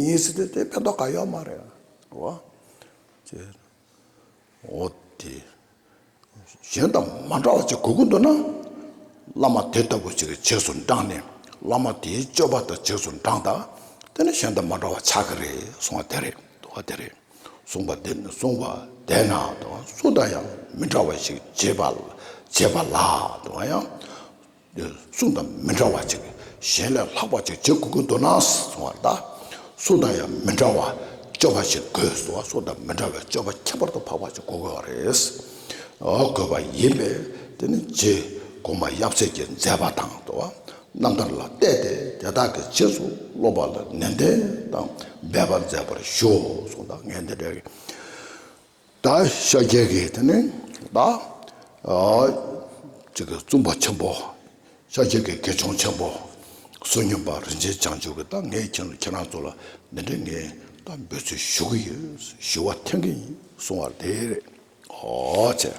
ཡིན་སྲིད་དེ་ཕན་ཐོགས་གང་ཡོད་མ་རེད་བ། ཅེས་འོ་དེ་གཞན་དང་མ་འདྲ་བ་ཅིག་གོ་གི་འདུག་ན། བླ་མ་དེ་ལྟ་བུ་ཞིག་གི་ཆས་སུ་འབྲངས་ནས་བླ་མ་དེའི་སྤྱོད་པ་དང་ཆས་སུ་འབྲངས་ད་དེ་ནི་གཞན་དང་མ་འདྲ་བ་ཆགས་ཀྱི་རེད་གསུངས་བ་དེ་རེད་འདུག་དེ་རེད་གསུངས་བ་དེ་ནི་གསུངས་བ་དེ་ན་དང་སུ་དང་ཡང་མི་འདྲ་བ་ཞིག་བྱས་པ་བྱས་པ་ལ་དང་ཡང། འདིར་གསུང་དང་མི་འདྲ་བ་ཅིག་གཞན་ལས་ལྷག་པ་ཅིག་བྱེད་དགོས་ཀྱི་འདུག་ན་གསང་བར་གདའ། གསུང་དང་ཡང་མི་འདྲ་བ་སྤྱོད་པ་ཞིག་དགོས་སོ། གསུང་དང་མི་འདྲ་བའི་སྤྱོད་པ་ཁྱད་པར་དུ་འཕགས་པ་ཞིག་གོ་དགོས་པ་རེད། དགོས་པ་ཡིན་པས་དེ་ནི་རྗེ་གོང་མ་ཡབ་སྲས་ཀྱིས་མཛད་པ་དང་མདོ་བ་རྣམ་ཐར་ལ་བལྟས་ཏེ་དེ་དག་གི་རྗེས་སུ་སློབ་པ་ལ་ནན་ཏན་དང་འབད་པ་མཛད་པར་ཞུའོ་གསུང་དང་ངས་འདི་འདྲའི་ད་ཤཱཀྱའི་གེགས་དེ་ནི་ད་ཅིག་བཙུན་པ་ཆེན་པོ་ཤཱཀྱའི་གེགས་དགེ་སྦྱོང་ཆེན་པོ་བསོད་སྙོམས་པ་རིན་ཆེན་བྱང་ཆུབ་ཀྱི་ད་ངས་ཁྱེད་རང་ཁྱེད་རང་ཚོ་ལ་འདི་འདྲའི་ངའི་ད་འབོད་ཚུལ་ཞུ་གི་ཡོད་ཞུ་བ་འཐེན་གི་ཡིན་གསུང་བར་དེས་རེད་ཧོ་བྱས།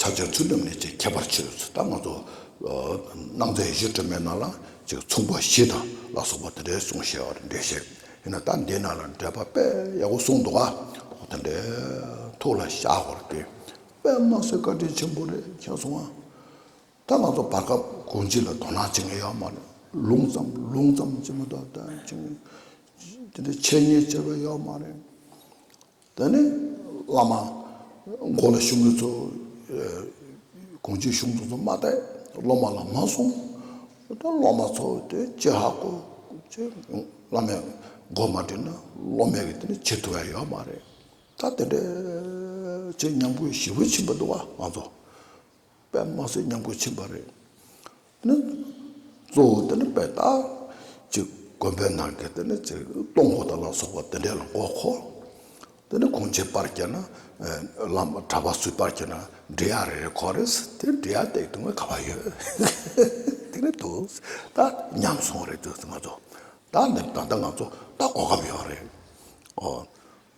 ཕྱག་ཆེན་ཚུལ་ཁྲིམས་ལས་ཀྱི་ཁྱད་པར་ཕྱེ་བའི་ཚུལ་ལྟར་སྣང་ཚུལ། སྣང་མཛད་བཞི་སྒྲོན་མའི་ནང་ལ་ཅིག་མཚུངས་པ་བཞི་དང་ལ་སོགས་པ་དེ་འདྲའི་གསུང་བཤད་བར་འདོད་བཞིན་ཡིན་ན་ད་འདི་ན་ལ་འགྲེལ་པ་དཔེ་ཡག་པོ་གསུངས་འདུག་ཨ་དེ་འདྲའི་ཐུགས་ལ་བཞག་བར་འདོད། པདྨ་སེ་བཀའ་དྲིན་ཆེན་པོ་རེད་མཁྱེན་སོང་ཨ། ད་ང་ཚོ་བར་སྐབས་དགོངས་གཅིག་ལ་དོ་སྣང་བྱེད་མཁན་ཡོད་མ་རེད་ལུང་ཙམ་ལུང་ཙམ་བྱེད་མི་ཐུབ་དོན་ཅི་ཡིན་དེ་འདྲའི་འཆད་ཉན་བྱེད་པ་ཡོད་མ་རེད། དེ་ནས་བླ་མ་འགོ་ལ་ཞུགས་མི་ཚོ་གོང་ཆེན་གཞུང་ཚོགས་ཚོ་མ་དད་སློབ་མ་ལ་མ་གསུང། དེ་སློབ་མ་ཚོ་དེ་ཅི་ཧ་གོ་ཅི་བླ་མས་འགོ་མ་དྲིས་ན་སློབ་མས་གི་དེ་ནི་བྱེད་ཐུབ་ཡ་ཡོད་མ་རེད། ད་དེ་འདྲའི་བྱེད་སྙམ་དགོས་ཞེ་བོ་ཕྱིན་པ་འདུག་བ་ང་ཚོ། པའི་དམངས་སྲོལ་ཉམས་རྒུད་ཕྱིན་པ་རེད། ནི། གཙོ་བོ་དེ་ནི་པའི་དག། ཅིག་དགོན་པའི་ནང་གི་དེ་ནི་ཅིག་སྟོང་སྒོ་དང་ལ་སོགས་པ་དེ་འདྲའི་ལ་མགོ་ཁོ། དེ་ནི་གུང་ཆེན་པར་གྱི་ན། བླ་མ་གྲྭ་པ་སུས་པར་གྱི་ན་འབྲི་གཡག་རེ་རེ་ཁོ་རེས་དེ་འབྲི་གཡག་སྟེགས་དུ་མ་ག་པ་ཡོད། དེ་ནི་དུ། ད་ཉམས་སོང་རེད་དུས་ཚོད་ང་ཚོ། ད་ནི་ད་ལྟ་ང་ཚོ་ད་གོ་སྐབས་ཡོད་རེད། ཨོ།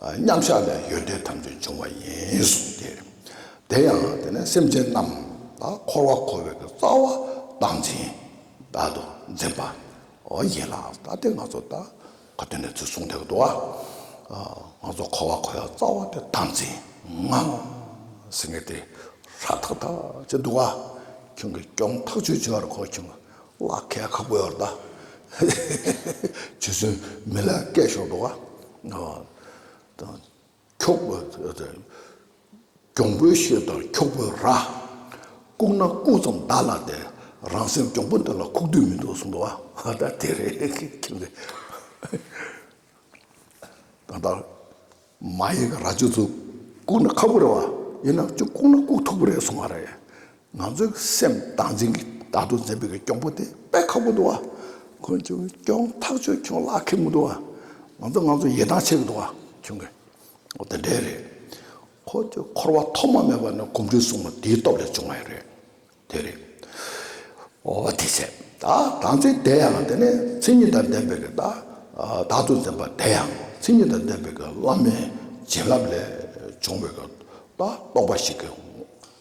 མཉམ་བཞག་ལས་ཡོན་ཏན་ཐམས་ཅད་འབྱུང་བ་ཡིན་གསུངས་ཏེ། དེ་ཡང་དེ་ནས་སེམས་ཅན་རྣམས་ལ་འཁོར་བར་འཁོར་བའི་རྩ་བ་བཏང་འཛིན་བདག་ཏུ་འཛིན་པ་ཡིན་ལ་ད་ལྟའི་ང་ཚོ་ལྟ་ག་དུས་ནས་ཚུལ་གསུངས་དེ་ལྟར་ང་ཚོ་འཁོར་བར་འཁོར་བའི་རྩ་བ་དེ་བཏང་འཛིན་ངང་ཟིན་ངེས་ཏེ། ཧྲཱི། ཐག་ཐག་ཅི་འདུག་ག། ཁྱོད་ཀྱིས་སྐྱོང་ཐག་ཆོད་བྱོས་པར་གོ་ཁྱོད། བ་ཁལ་ཁ་བོད་ད་ཇི་སྲིན་མི་ལ་སྐད་ཤོར་འགྲོ་ག་ཁྱོག་པོ་གྱོང་པོའི་གཤེད་དང་ཁྱོག་པོའི་ར་ལྐུག་ན་ལྐུག་ཙམ་བདག་ལ་དེ་རང་སེམས་གྱོང་པོ་འདི་ལ་ཁུག་དུས་མི་འདུག་གསུངས་འདུག་བ་ད་དེ་རེད་ཁྱིམ་ལས། ད་ལྟ་མ་ཡིག་ར་བཅུ་ཚོ་བཀུག་ན་ཁག་པོ་རེད་བ། ཡིན་ནའང་བཅུ་བཀུག་ན་བཀུག་ཐུབ་པོ་རེད་གསུང་བ་རེད། ང་ཚོའི་སེམས་བཏང་འཛིན་གྱི་ད་དུང་འཛིན་པའི་གྱི་སྐྱོང་པོ་དེ་དཔེ་ཁག་པོ་འདུག་བ། ཁོང་ཆུང་སྐྱོང་ཐག་ཆོད་ཁྱོང་ལ་ཁེལ་མི་འདུག་བ། ང་ཚོ་ང་ཚོ་ཡི་དྭགས་བྱེད་གི་འདུག་བ་ཁྱོང་གི། འོ་དེ་འདྲའི་རེད། ཁོ་ཚོས་འཁོར་བ་ཐོག་མ་མེད་པ་ནས་གོམས་འགྲོས་བཟུང་བ་དེའི་སྟོབས་ལས་བྱུང་བ་ཡི་རེད། དེ་རེད། འོ་དེ་བྱས། དང་ཚིག་དེ་ཡང་དེ་ནི་ཚིག་ཉིད་དང་ལྡན་པའི་བདག། བདག་ཏུ་འཛིན་པ་དེ་ཡང་ཚིག་ཉིད་དང་ལྡན་པའི་བླ་མའི་བྱིན་རླབས་ལས་བྱུང་བའི་རྟོག་པ་ཞིག་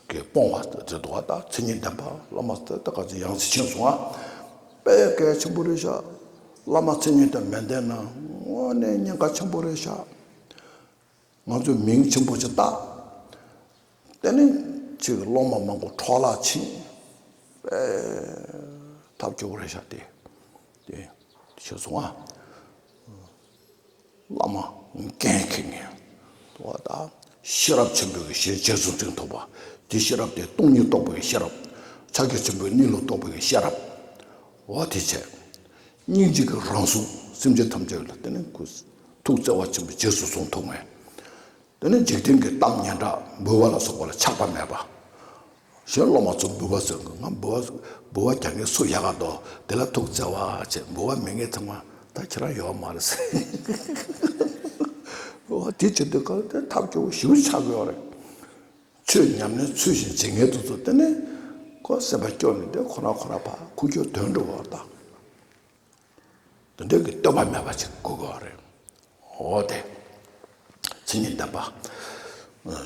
གིས་སྤོང་བ་དེ་དོ་བདག་ཚིག་ཉིད་ལྡན་པ་བླ་མ་དེ་དག་གི་ཡང་ཚིག་ཆེན་སོང་བ། དཔལ་སྐལ་ཆེན་པོ་རེ་ཤག། བླ་མ་ཚིག་ཉིད་དང་མི་ལྡན་ན་དངོས་གནས་ཉེན་ཁ་ཆེན་པོ་རེ་ཤག། ང་ཚོས་མིང་ཆེན་པོ་ཞིག་བཏགས། དེ་ནི་ཕྱིས་ཀྱི་སློབ་མ་མང་པོ་འཕྲོ་བརླག་ཕྱིན་པའི་ཐབས་སྐྱོ་བོ་རེད་ཤག་དེ་དེ་ཤེས་སོང་ཨ། བླ་མ་མཁན་མཁས་ངེས་ཐུབ་བ་དང་ཤེས་རབ་ཆེན་པོའི་ཞལ་ལྕེ་གཟུང་འཛིན་ཐུབ་པ་དེ་ཤེས་རབ་དེ་སྟོང་ཉིད་རྟོགས་པའི་ཤེས་རབ་ཕྱག་རྒྱ་ཆེན་པོའི་གནས་ལུགས་རྟོགས་པའི་ཤེས་རབ་འོ་དེ་ཆེ། སྙིང་རྗེ་གི་རང་གཟུགས་སེམས་ཅན་ཐམས་ཅད་ལ་དེ་ནས་གུས། ཐུགས་བརྩེ་བ་ཆེན་པོས་རྗེས་སུ་བཟུང་ཐུགས་ངལ། དེ་ནས་འཇིག་རྟེན་གྱི་གཏམ་སྙན་གྲགས་འབུལ་བ་ལ་སོགས་པ་ལ་ཆགས་པ་མེད་པ། གཞན་སློབ་མ་ཚོ་འབུལ་བ་ཟེར་དགོས་ང་འབུལ་བ་འབུལ་བ་རྒྱག་ངེས་སུ་ཡག་ག་འདོག་དེ་ལ་ཐུགས་བརྩེ་བ་ཆེ་འབུལ་བ་མི་ངེས་ཚང་མ་ད་ཁྱེད་རང་ཡོད་བ་མ་རེད་ཟེར། འོ་དེ་བྱེད་དུས་གང་ཐད་ཐབས་སྐྱོ་བོ་ཞིག་ཆགས་དགོས་པ་རེད། ཆོས་ཉམས་ལེན་ཚུལ་བཞིན་བྱེད་མཁན་དུ་ཚུར་བསྟེན་ནས། ཁོ་སེམས་པ་སྐྱོ་ནས་དེ་ཁོ་ན་ཁོ་ན་བར་ཁུག་ཀྱོག་དོན་འགྲུབ་བ་དང། དོན་འགྲུབ་ཀྱི་བསྟོད་པ་མེད་པ་ཅིག་དགོས་དགོས་བ་རེད། འོ་དེ། མཚན་ཉིད་ལྡན་པ།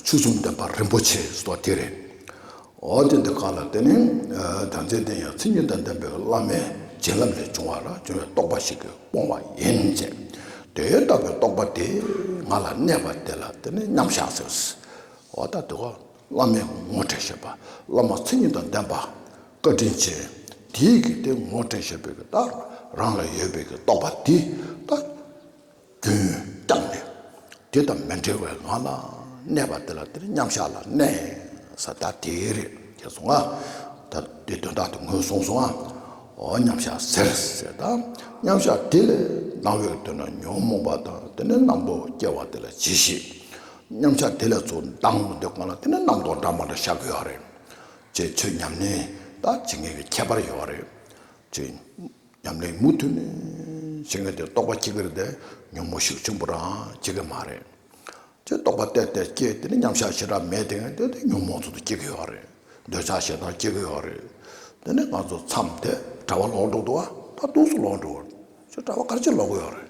ཆོས་གསུམ་ལྡན་པ་རིན་པོ་ཆེ་སོགས་དེ་རེད། འོ་དེ་འདི་གང་ལ་བརྟེན་ནས་དམ་ཚིག་ལྡན་ཡང་མཚན་ཉིད་དང་ལྡན་པའི་བླ་མའི་བྱིན་རླབས་ལས་བྱུང་བ་ལ་བྱུང་བའི་རྟོགས་པ་ཞིག་གིས་སྤོང་བ་ཡིན་ཅེས། དེ་ལྟ་བུའི་རྟོགས་པ་དེ་ང་ལ་གནས་པ་དེ་ལ་བརྟེན་ནས་མཉམ་བཞག་ཟེར། བ་ལྟར་བསྡུ་བ། བླ་མའི་ངོ་སྤྲད་བཞེད་པ། བླ་མ་མཚན་ཉིད་དང་ལྡན་པ། བཀའ་དྲིན་ཆེ། དེའི་རྒྱུད་སྡེ་ངོ་སྤྲད་བཞེད་པའི་རྟགས་རང་ལ་ཡོད་པའི་རྟོགས་པ་འདི་ལྟར། རྒྱུན་བསྐྱངས་ནས། དེ་དང་མི་འབྲལ་བའི་ངང་ལ་གནས་པ་དེ་ལ་དེར་མཉམ་གཞག་ལ་གནས་ས་ད་དེ་རེད་ཅེས་སོང་ང། ད་དེ་དོན་དག་ཏུ་ངོས་བཟུང་སོང་ང། འོ་མཉམ་གཞག་ཟེར་ཟེར་ད། མཉམ་གཞག་དེ་ལས་སྣང་བའི་དོན་ན་ཉོན་མོངས་པ་དང་དེ་ནས་རྣམ་རྟོག་སྐྱེ་བ་དེ་ལ་ཇི་བཞིན། ཉམས་ཆག་དེ་ལས་ཚུར་འདང་མི་འདོད་གོང་ལ་དེ་ནས་རྣམ་རྟོག་འདྲ་མང་འདྲ་བཞག་དགོས་ཡོད་རེད། ཅེས་ཆོས་ཉམས་ལེན་ལ་བྱེད་ངེས་པའི་ཁྱད་པར་ཡོད་རེད། ཆོས་ཉམས་ལེན་མུ་མཐུད་ནས་བྱེད་ངེས་ཏེ་རྟོག་པ་སྐྱེ་ཁར་དེ་ཉོན་མོངས་ཤུགས་ཆེན་པོ་རང་བྱེད་ཀྱི་མ་རེད། ཅེས་རྟོག་པ་བལྟས་བལྟས་སྐྱེས་དེ་ནས་ཉམས་ཆག་ཞེ་དྲག་མེད་དེ་དེ་དེ་ཉོན་མོངས་ཚོར་དུ་སྐྱེ་གི་ཡོད་རེད། འདོད་ཆགས་ཞེ་སྡང་སྐྱེ་གི་ཡོད་རེད། དེ་ནས་ང་ཚོ་མཚམས་དེ་གྲྭ་བ་ལོག་འགྲོ་འདུག་ཨ་ད་དུག་སུ་ལོག་འགྲོ། ཅེས་གྲྭ་བ་སྐར་ཆེན་ལོག་གི་ཡོད་རེད།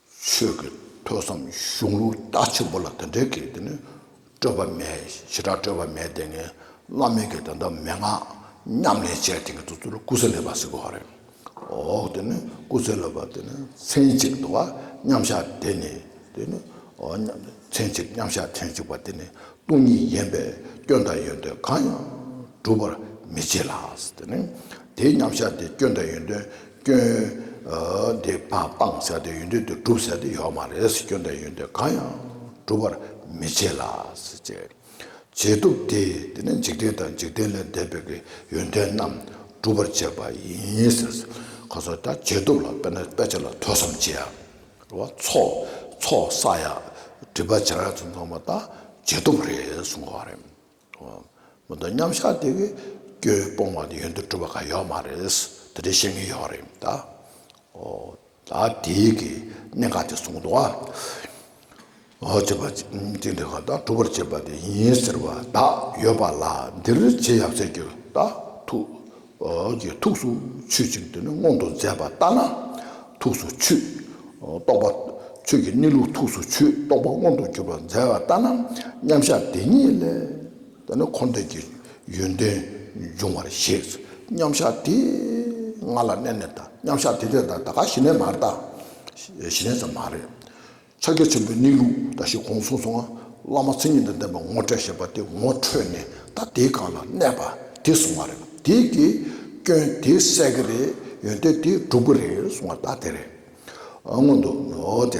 ཆོས་ཀྱི་ཐོས་བསམ་གཞུང་ལུགས་རྟགས་ཆེན་པོ་ལ་དེ་འདྲའི་གེགས་དེ་ནི་སྤྲོས་པ་མེད་ཞེ་དྲག་སྤྲོས་པ་མེད་དེ་ངས་བླ་མེད་ཀྱི་དོན་དག་མན་ངག་ཉམས་ལེན་བྱས་དེ་ངས་ཚོགས་གཙོ་ལ་སྐུ་ཚེ་ལེགས་པར་ཟེར་དགོས་པ་རེད་འོ་དེ་ནི་སྐུ་ཚེ་ལེགས་པར་དེ་ནི་མཚན་གཅིག་འདུག་བ་མཉམ་བཞག་དེ་ནི་དེ་ནི་འོ་མཚན་གཅིག་མཉམ་བཞག་མཚན་གཅིག་པ་དེ་ནི་སྟོང་ཉིད་ཡིན་པས་སྐྱོན་དང་ཡོན་ཏན་གང་ཡང་སྒྲུབ་པར་མི་བྱེད་ལགས་དེ་ནི་དེའི་མཉམ་བཞག་དེ་སྐྱོན་དང་ཡོན་ཏན། སྐྱོན། དེ་སྤང་ཟེར་དེ་ཡོན་ཏན་དུ་སྒྲུབ་ཟེར་དེ་ཡོད་མ་རེད། སྐྱོན་དང་ཡོན་ཏན་གང་ཡང་སྒྲུབ་པར་མི་བྱེད་ལ། བྱེད་ཐུབ་དེ་དེ་ནི་འཇིག་རྟེན་དང་འཇིག་རྟེན་ལས་འདས་པའི་གི་ཡོན་ཏན་རྣམས་སྒྲུབ་པར་བྱེད་པ་ཡིན། ཁོ་ཚོ་ད་བྱེད་ཐུབ་ལ་དཔེར་ན་དཔེ་ཆ་ལ་ཐོས་བསམ་བྱེད་ཡག་བ་ཚོགས་བསགས་ཡག་བྲིས་པ་བྱང་ཡག་ཚོ་ཚང་མ་ད་བྱེད་ཐུབ་རེད་གསུངས་པ་རེད། མི་འདུག་མཉམ་བཞག་དེ་གི་སྐྱོན་སྤོང་བ་ནི་ཡོན་ཏུ་གྲུབ་པ་ག་ཡོག་མ་རེད། དེ་འདྲའི་བཤད་ངན་ཡོག་རེད་མི་འདག་གོ། ད་དེའི་གི་གནད་འགག་དེ་གསུངས་འདུག་ཨ། བྱེད་པ་གཅིག་འདི་ག་དང་གྲུབ་པར་བྱེད་པ་དེ་ཡིན་ཟེར་བ་དག་ཡོད་པ་ལ་འདིར་བྱེད་ཡབ་སྲས་ཀྱི་དག་ཐུག། ཀྱི་ཐུགས་སུ་ཆུད་ཅིང་དེ་ནི་མངོན་དུ་མཛད་པ་ལྟར་ན་ཐུགས་སུ་ཆུད། རྟོགས་པ། ཆོས་ཀྱི་གནས་ལུགས་ཐུགས་སུ་ཆུད་རྟོགས་པ་མངོན་དུ་གྱུར་པར་མཛད་པ་ལྟར་ན་མཉམ་གཞག་དེ་ཉིད་ལས་དེ་ནི་འཁོར་འདས་ཀྱི་ཡོན་ཏན་འབྱུང་བར་བཞེད། མཉམ་གཞག་དེ་ང་ལ་གནས་ནས་དང་མཉམ་གཞག་དེ་དེ་དང་ད་ག་ཞི་གནས་མ་རེད་ད་ཞི་གནས་ཙམ་མ་རེད། ཕྱག་རྒྱ་ཆེན་པོའི་གནས་ལུགས་འདྲ་ཞིག་གོང་གསུངས་སོང་ང་བླ་མ་མཚན་ཉིད་དང་ལྡན་པ་ངོ་སྤྲད་ཞེས་པ་དེ་ངོ་འཕྲོད་ནས་ད་དེའི་སྒང་ལ་གནས་པ་དེ་གསུངས་བ་རེད་དེ་གི་སྐྱོན་དེ་བསལ་གི་རེད་ཡོན་ཏན་དེ་འགྲུབ་གི་རེད་གསུངས་བ་ད་དེ་རེད་སྔོན་དུ་འགྲོ་དེ་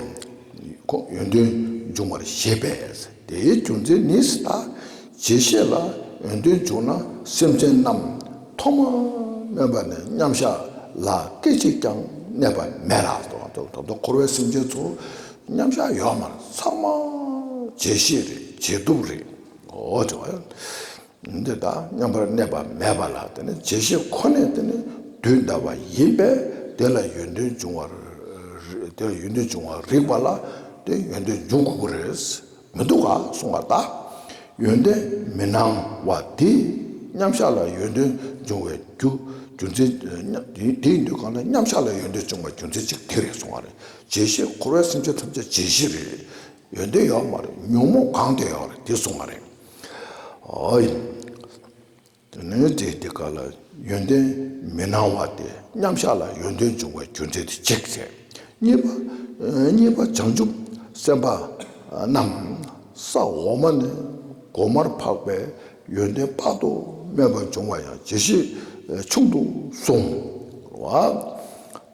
ཁོང་ཡོན་ཏན་འབྱུང་བར་བཞེད་པས་དེའི་རྒྱུ་མཚན་ནི་ད་རྗེས་བཤད་ལ་འོས་འདོན་བྱུང་ན་སེམས་ཅན་རྣམས་ཐོག་མར་སྨོན་པ་ནས་མཉམ་བཞག་ལ་སྐད་ཅིག་ཀྱང་གནས་པ་མེད་ལ། ད་དུང་འཁོར་བའི་སེམས་ཅན་ཚོ་མཉམ་བཞག་ཡོང་མར་ཚང་མ་རྗེས་བཤད་རེད་རྗེས་བསྡུག་རེད། འོ་དེ་བ། འདི་དག་མཉམ་པར་གནས་པ་མེད་པ་ལ་དེ་ནི་རྗེས་བཤད་ཁོ་ནས་དེ་ནི་དུས་འདའ་བ་ཡིན་པས་དེ་ལ་ཡོན་ཏན་འབྱུང་བར་རིགས་པ་ལ་དེ་ཡོན་ཏན་འབྱུང་དགོས་རེད། མི་འདུག་ག་གསུང་བ་དག་ཡོན་ཏན་མི་སྣང་བ་དེ་མཉམ་གཞག་ལ་ཡོན་ཏན་འབྱུང་བའི་རྒྱུ་རྒྱུ་མཚན་དེའི་འདུས་གང་ལ་མཉམ་གཞག་ལ་ཡོན་ཏན་འབྱུང་བའི་རྒྱུ་མཚན་གཅིག་དེ་རེད་གསུང་བ་རེད་བརྗེད་གཞི་འཁོར་བའི་སེམས་ཅན་ཐམས་ཅད་བརྗེད་གཞི་རེད་ཡོན་ཏན་ཡོད་མ་རེད་ཉོན་མོངས་གང་དེ་ཡོད་རེད་དེ་གསུང་བ་རེད། དོན་ནོར་རྫས་དེ་ག་ལ་ཡོན་ཏན་མི་སྣང་བ་སྟེ་མཉམ་བཞག་ལ་ཡོན་ཏན་འབྱུང་བའི་རྒྱུ་མཚན་དུ་གཅིག་བྱས། གཉིས་པ་བྱང་ཆུབ་སེམས་དཔའ་རྣམས་ས་འོག་མ་ནས་གོང་མར་འཕགས་པའི་ཡོན་ཏན་དཔག་ཏུ་མེད་པ་འབྱུང་བ་ཡང་ཇི་བཞིན་ཆུང་དུ་སོང་བ་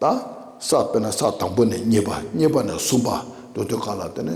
དང། ས་དཔེར་ན་ས་དང་པོ་ནས་གཉིས་པ་གཉིས་པ་ནས་གསུམ་པ་འདོད་དོ་ག་ལ་དེ་ནི་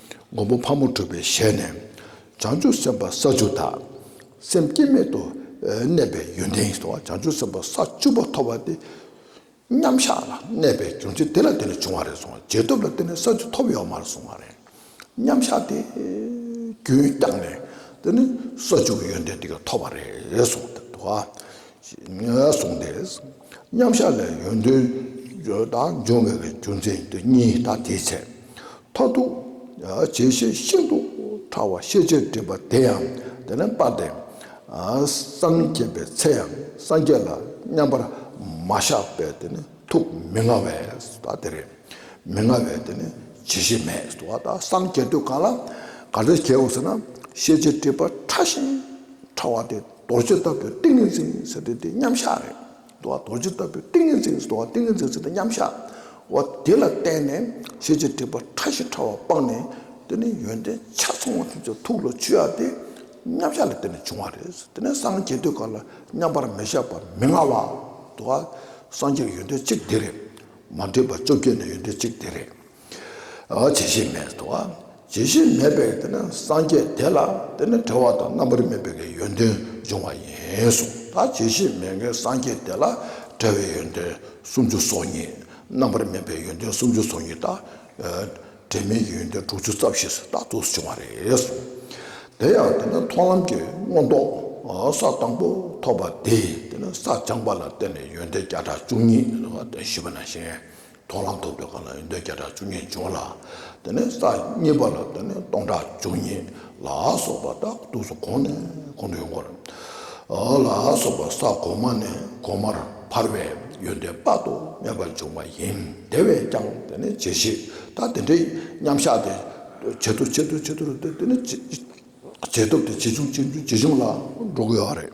མགོན་པོ་ཕག་མོ་གྲུ་པའི་ཞལ་ནས། བྱང་ཆུབ་སེམས་དཔའ་ས་བཅུ་དག། སེམས་བསྐྱེད་མེད་དུ་གནས་པའི་ཡོན་ཏན་གྱིས། བྱང་ཆུབ་སེམས་དཔའ་ས་བཅུ་པོ་ཐོབ་པ་སྟེ། མཉམ་གཞག་ལ་གནས་པའི་རྒྱུ་མཚན་དེ་ལ་བརྟེན་ནས་བྱུང་བ་རེད་གསུངས། རྗེས་ཐོབ་ལ་བརྟེན་ནས་ས་བཅུ་ཐོབ་ཡོད་མ་རེད་གསུངས་པ་རེད། མཉམ་གཞག་དེ་རྒྱུན་བསྐྱངས་ནས་དེ་ནི་ས་བཅུ་གི་ཡོན་ཏན་དེ་ག་ཐོབ་པ་རེད་གསུངས། གསུངས་ཏེ། མཉམ་བཞག་ལས་ཡོན་ཏན་བརྗོད་དང་འབྱུང་བའི་རྒྱུ་མཚན་དེ་གཉིས་དང་དེའི་ཚེ། མཐར་ཐུག་བྱེད་བཞི་ཤིན་ཏུ་ཕྲ་བ་ཤེས་བྱའི་སྒྲིབ་པ་དེ་ཡང་དེ་ལས་སྤངས་ཏེ། སངས་རྒྱས་པའི་ཚེ་ཡང་སངས་རྒྱས་ལ་མཉམ་པར་མ་བཞག་པའི་དེ་ནི་ཐུགས་མི་མངའ་བས་སོ་དེ་རེད། མི་མངའ་བས་དེ་ནི་བྱེད་བཞི་མེད་སོ་ད་སངས་རྒྱས་དུས་གང་ལ་ག་རེ་བྱའོ་ཟེར་ན་ཤེས་བྱའི་སྒྲིབ་པ་ཕྲ་ཞིང་ཕྲ་བ་དེ། རྡོ་རྗེ་ལྟ་བུའི་ཏིང་ངེ་འཛིན་ཟེར་དུས་དེ་མཉམ་གཞག་རེད་དོ། རྡོ་རྗེ་ལྟ་བུའི་ཏིང་ངེ་འཛིན་ཟེར་དུས་ཏིང་ངེ་འཛིན་ཟེར་དུས་མཉམ་གཞག་འོ། དེ་ལ་བརྟེན་ནས་ཤེས་བྱའི་སྒྲིབ་པ་ཕྲ་ཞིང་ཕྲ་བ་སྤངས་ནས་དེ་ནི་ཡོན་ཏན་ཆ་ཚང་བ་ཐམས་ཅད་ཐུགས་ལ་ཆུད་ཡ་དེ་མཉམ་གཞག་ལ་བརྟེན་ནས་བྱུང་བ་རེད། དེ་ནས་སངས་རྒྱས་དུས་འགའ་ལ་མཉམ་པར་མི་གཞག་པ་མི་མངའ་བ་དུ་བ་སངས་རྒྱས་ཀྱི་ཡོན་ཏན་གཅིག་དེ་རེད། མ་འདྲེས་པ་བཅོ་བརྒྱད་ནི་ཡོན་ཏན་གཅིག་དེ་རེད། བྱེད་ཤེས་མེད་དོ། བྱེད་ཤེས་མེད་པས་དེ་ནི་སངས་རྒྱས་དེ་ལ་དེ་ནི་བྲལ་བ་དང་རྣམ་པར་སྨིན་པའི་གེའི་ཡོན་ཏན་འབྱུང་བ་ཡིན་གསུངས་ལ་བྱེད་ཤེས་མེད་མཁན་སངས་རྒྱས་དེ་ལ་བྲལ་བའི་ཡོན་ཏན་སུམ་ཅུ་སོ་གཉིས་རྣམ་པར་སྨིན་པའི་ཡོན་ཏན་སུམ་ཅུ་སོ་གཉིས་དང། བྲལ་མིན་གྱི་ཡོན་ཏན་དྲུག་ཅུ་རྩ་བཞི་སུ་དག་ཏུ་བྱུང་བ་རེད་གསུངས། དེ་ཡང་དེ་ནི་མཐོང་ལམ་གྱི་མངོན་རྟོགས་ས་དང་པོ་ཐོབ་པ་དེས་དེ་ནི་ས་སྦྱངས་པ་ལ་བརྟེན་ནས་ཡོན་ཏན་བརྒྱ་ཕྲག་བཅུ་གཉིས་ཞུས་པ་ན་གཞན་དོ་ལ་འདོད་འདོད་ག་ལ་ཡོད་འདོད་བརྒྱ་ཕྲག་བཅུ་གཉིས་བྱུང་ལ། དེ་ནས་ས་གཉིས་པ་ལ་དེ་ནས་སྟོང་ཕྲག་བཅུ་གཉིས་ལ་སོགས་པ་དག་ཏུ་སོ་གོང་ནས་གོང་དུ་ཡོང་བར། ལ་སོགས་པ་ས་གོང་མ་ནས་གོང་མར་འཕར་བའི་ཡོན་ཏན་དཔག་ཏུ་མེད་པ་འབྱུང་བ་ཡིན། དེ་བས་ཀྱང་དེ་ནི་ཇི་བཞིན་དང་དེ་འདྲའི་མཉམ་གཞག་དེ་ཇེ་ཐུ་ཇེ་ཐུ་ཇེ་ཐུ་རུ་དེ་ནི་ཇེ་ཐུབ་དེ་ཇེ་ཆུང་ཇེ་ཆུང་ཇེ་ཆུང་ལ་འགྲོ་དགོས་པ་རེད།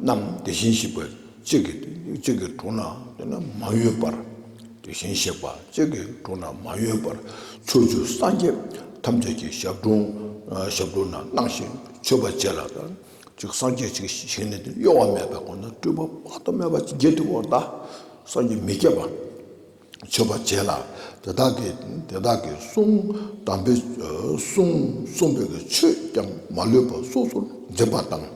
རྣམས་དེ་བཞིན་གཤེགས་པ་གཅིག་གི་དྲུང་ན་མ་གཡོས་པར་དེ་བཞིན་གཤེགས་པ་གཅིག་གི་དྲུང་ན་མ་གཡོས་པར་ཕྱོགས་བཅུ་སངས་རྒྱས་ཐམས་ཅད་ཀྱི་ཞབས་དྲུང་ན་སྣང་ཞིང་མཆོད་པ་བྱས་ལ། གཅིག་སངས་རྒྱས་གཅིག་ཞིག་ནི་གཡོ་བ་མེད་པའི་སྒོ་ནས་སྤྲུལ་པ་དཔག་ཏུ་མེད་པ་བརྒྱད་དུ་བ་དག་སངས་རྒྱས་མི་བསྐྱེད་པ། མཆོད་པ་བྱས་ལ་དེ་དག་གིས་དེ་དག་གི་གསུང་དམ་པའི་གསུང་གསུངས་པས་ཆོས་ཀྱང་མ་ལུས་པ་སོ་སོར་འཛིན་པ་དང།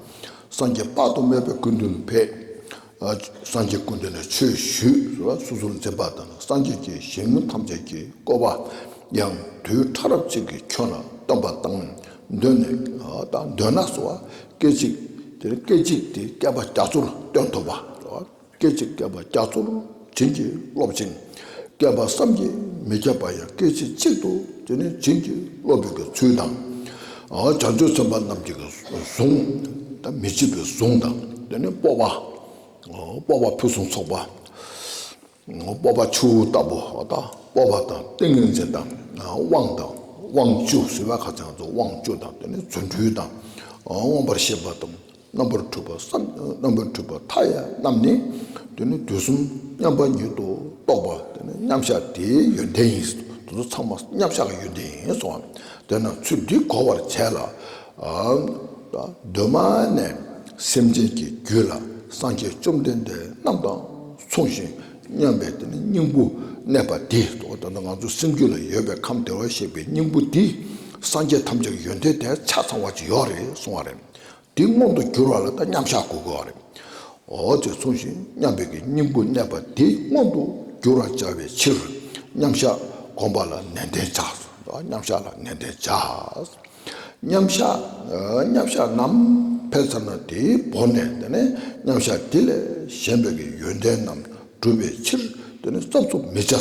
སངས་རྒྱས་དཔག་ཏུ་མེད་པའི་ཀུན་འདུན་ཕེབས། སངས་རྒྱས་ཀུན་འདུན་ནས་ཆོས་ཞུས་ལ་སོ་སོར་འཛིན་པ་དང་སངས་རྒྱས་ཀྱི་ཞིང་ཐམས་ཅད་ཀྱི་བསྐོར་བ་ཡང་དུས་ཕྲ་རབ་ཅིག་གིས་ཁྱོད་ལ་སྟོན་པ་དང་འདོད་ནས་དང་འདོད་ན་སོ། སྐད་ཅིག་དེ་སྐད་ཅིག་དེ་བསྐལ་པ་རྒྱ་མཚོར་སྟོན་ཐུབ་པ། སྐད་ཅིག་བསྐལ་པ་རྒྱ་མཚོར་བྱིན་གྱིས་རློབ་ཅིང། བསྐལ་པ་བསམ་གྱིས་མི་ཁྱབ་པ་ཡང་སྐད་ཅིག་གཅིག་ཏུ་དེ་ནི་བྱིན་གྱིས་རློབ་པའི་གི་ཚུལ་དང། བྱང་ཆུབ་སེམས་དཔའ་རྣམས་ཀྱི་གི་གཟུངས་དང་མི་ཕྱེད་པའི་གཟུངས་དང་དེ་ནི་སྤོབས་པ། སྤོབས་པ་ཕུན་སུམ་ཚོགས་པ། སྤོབས་པ་ཆུ་བོ་ལྟ་བུ་དང་སྤོབས་པ་དང་ཏིང་ངེ་འཛིན་དང་དབང་དང་དབང་བཅུ་ཟེར་བ་ཁ་བྱང་དུ་དབང་བཅུ་དང་དེ་ནི་རྫུ་འཕྲུལ་དང་དབང་བར་བྱེད་པ་དང། རྣམ་པར་འཕྲུལ་པ་སམ་རྣམ་པར་འཕྲུལ་པ་མཐའ་ཡས་རྣམས་ནི། དེ་ནི་དུས་གསུམ་མཉམ་པ་ཉིད་དུ་རྟོགས་པ་དེ་ནི་མཉམ་གཞག་དེའི་ཡོན་ཏན་ཡིན། དེ་ཚོ་ཚང་མ་མཉམ་གཞག་གི་ཡོན་ཏན་ཡིན་གསུང་ངོ། དེས་ན་ཚུལ་འདི་གོ་བར་བྱས་ལ། གདོད་མ་ནས་སེམས་ཅན་གྱི་རྒྱུད་ལ་སངས་རྒྱས་བཅོམ་ལྡན་འདས་རྣམས་དང་མཚུངས་ཤིང་མཉམ་པའི་དེ་ནི་སྙིང་པོ་གནས་པ་འདི་གཙོ་བོ། ང་ཚོ་སེམས་རྒྱུད་ལ་ཡོད་པའི་ཁམས་བདེ་བར་གཤེགས་པའི་སྙིང་པོ་འདི་སངས་རྒྱས་ཐམས་ཅད་ཀྱི་ཡོན་ཏན་དེ་ཆ་ཚང་བ་ཅི་ཡོད་རེད་གསུང་བ་རེད། དེ་མངོན་དུ་གྱུར་བ་ལ་ད་མཉམ་གཞག་གོ་དགོས་པ་རེད། འོ་ཅེས་གསུངས་ཤིང་མཉམ་པའི་གི་སྙིང་པོ་གནས་པ་དེ་མངོན་དུ་གྱུར་བར་བྱ་བའི་ཕྱིར་མཉམ་གཞག་བསྒོམ་པ་ལ་ནན་ཏན་བྱ། མཉམ་གཞག་ལ་ནན་ཏན་བྱ། མཉམ་གཞག་མཉམ་གཞག་རྣམས་འཕེལ་ཚར་ན་དེའི་བོར་ནས་དེ་ནས་མཉམ་གཞག་དེ་ལས་གཞན་པའི་གི་ཡོན་ཏན་རྣམས་འགྲུབ་པའི་ཕྱིར་དེ་ནས་རྩབ་རྩུབ་མི་བྱ།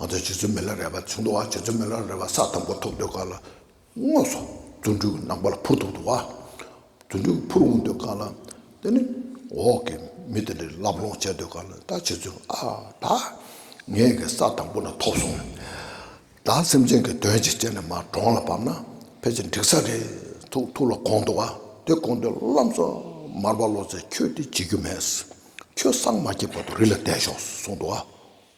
ང་ཚོས་བྱེད་རྩོལ་མི་ལ་རས་པ་ཚུན་དུ་བ་བྱེད་རྩོལ་མི་ལ་རས་པ་ས་དང་པོ་ཐོབ་འདོད་དཀའ་ལ། དངོས་སུ་རྫུ་འཕྲུལ་གྱི་ནག་པོ་ལ་འཕུར་ཐུབ་འདུག་བ་རྫུ་འཕྲུལ་གྱི་འཕུར་འོང་འདོད་དཀའ་ལ། དེ་ནི་འོག་གི་མི་དེ་འདྲའི་ལབ་ལོང་བྱེད་འདོད་དཀའ་ལ་ད་བྱེད་རྩོལ་ཨ་ད་ངེད་ཀྱི་ས་དང་པོ་ན་ཐོབ་སོང། ད་སེམས་ཅན་གྱི་དོན་ཅིག་བྱས་ནས་མར་གྲོང་ལ་བབས་ན་ཕལ་ཆེར་འགྲིག་ས་རེད་ཐུག་ཐུག་ལ་དགོངས་འདུག་བ་དེ་དགོངས་དུས་ལམ་སོ་མར་བ་བློ་རྩེ་ཁྱོད་དེ་བྱེད་རྒྱུ་མེད། ཁྱོད་སངས་མ་རྒྱས་བར་དུ་རི་ལ་བསྡད་ཤོག་གསུངས་འདུག་བ།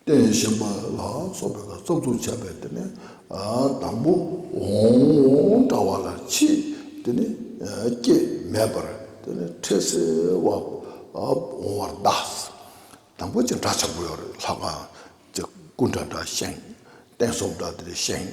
རྟེན་བཞེངས་པ་ལ་སོགས་པའི་བར་རྩ་བཙུགས་བྱ་བའི་དེ་ནི་དང་པོ་འོང་འདྲ་བ་ལ་ཕྱིས་དེ་ནི་སྐྱེ་མེད་པར་དེ་ནི་འཕྲལ་སེལ་བ་འོང་བར་གདའ། དང་པོ་ཅི་འདྲ་བྱ་དགོས་ལྷག་པ། སྐུ་འདྲ་འདྲ་བཞེངས། རྟེན་སོགས་འདྲ་འདྲ་བཞེངས།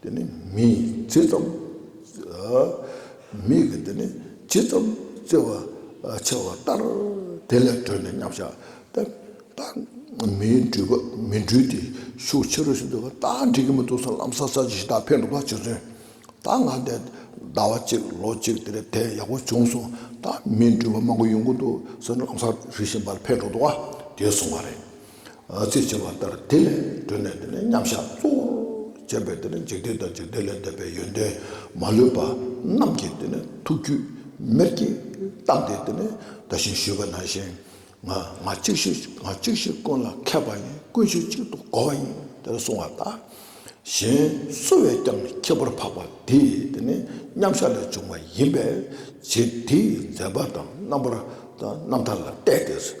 འདི་ནི་མི་ཡིས་ཇི་ཙམ། མིག་གིས་འདི་ནི་ཇི་ཙམ་བརྩེ་བ་ཆེ་བ་ལྟར་དེ་ལས་བགྲོད་ནས་མཉམ་བཞག་སྟེ། མིའི་འགྲུལ་པ་མི་འགྲུལ་ཏེ་ཤུགས་ཆེ་རུ་ཕྱིན་འདུག་པ་ད་འགྲིག་གི་མི་འདུག་སར་ལམ་སར་ས་བྱི་ཞིག་དག་འཕེན་འདུག་པ་གཅིག་མཚོན། ད་ང་འདས་ཟླ་བ་གཅིག་ལོ་གཅིག་དེ་རེད་དེ་ཡག་པོ་བྱུང་སོང་ད་མིའི་འགྲུལ་པ་མང་པོ་ཡོང་གི་འདུག་སར་ལམ་སར་རི་ཞིག་འཕེན་འགྲོ་འདུག་པ་དེ་སོང་བ་རེད། ཚིག་ཕྱེ་བ་ལྟར་དེ་ལས་གྲོལ་ནས་དེ་ནི་མཉམ་བཞག་གཙོ་བོར་བྱས་པས་དེ་ནི་འཇིག་རྟེན་དང་འཇིག་རྟེན་ལས་འདས་པའི་ཡོན་ཏན་མ་ལུས་པ་རྣམས་ཀྱི་དེ་ནི་ཐུགས་རྒྱུད་མེར་གྱིས་བཏགས་ཏེ་དེ་ནི་བཟླ་ཞིང་ཞུས་པ་ན་ཞིང་ང་ང་གཅིག་ཤོས་ང་གཅིག་ཤོས་ཀུན་ལ་མཁས་པ་ཡིན་ཀུན་ཤོས་གཅིག་ཏུ་གོ་བ་ཡིན་དེ་ལ་གསུང་བ་ལྟར་གཞན་སུ་བས་ཀྱང་ཁྱད་པར་འཕགས་པ་དེས་དེ་ནི་མཉམ་བཞག་ལས་བྱུང་བ་ཡིན་པས་རྗེ་འདིས་མཛད་པ་དང་རྣམ་པར་རྣམ་ཐར་ལ་བལྟས་ཏེ།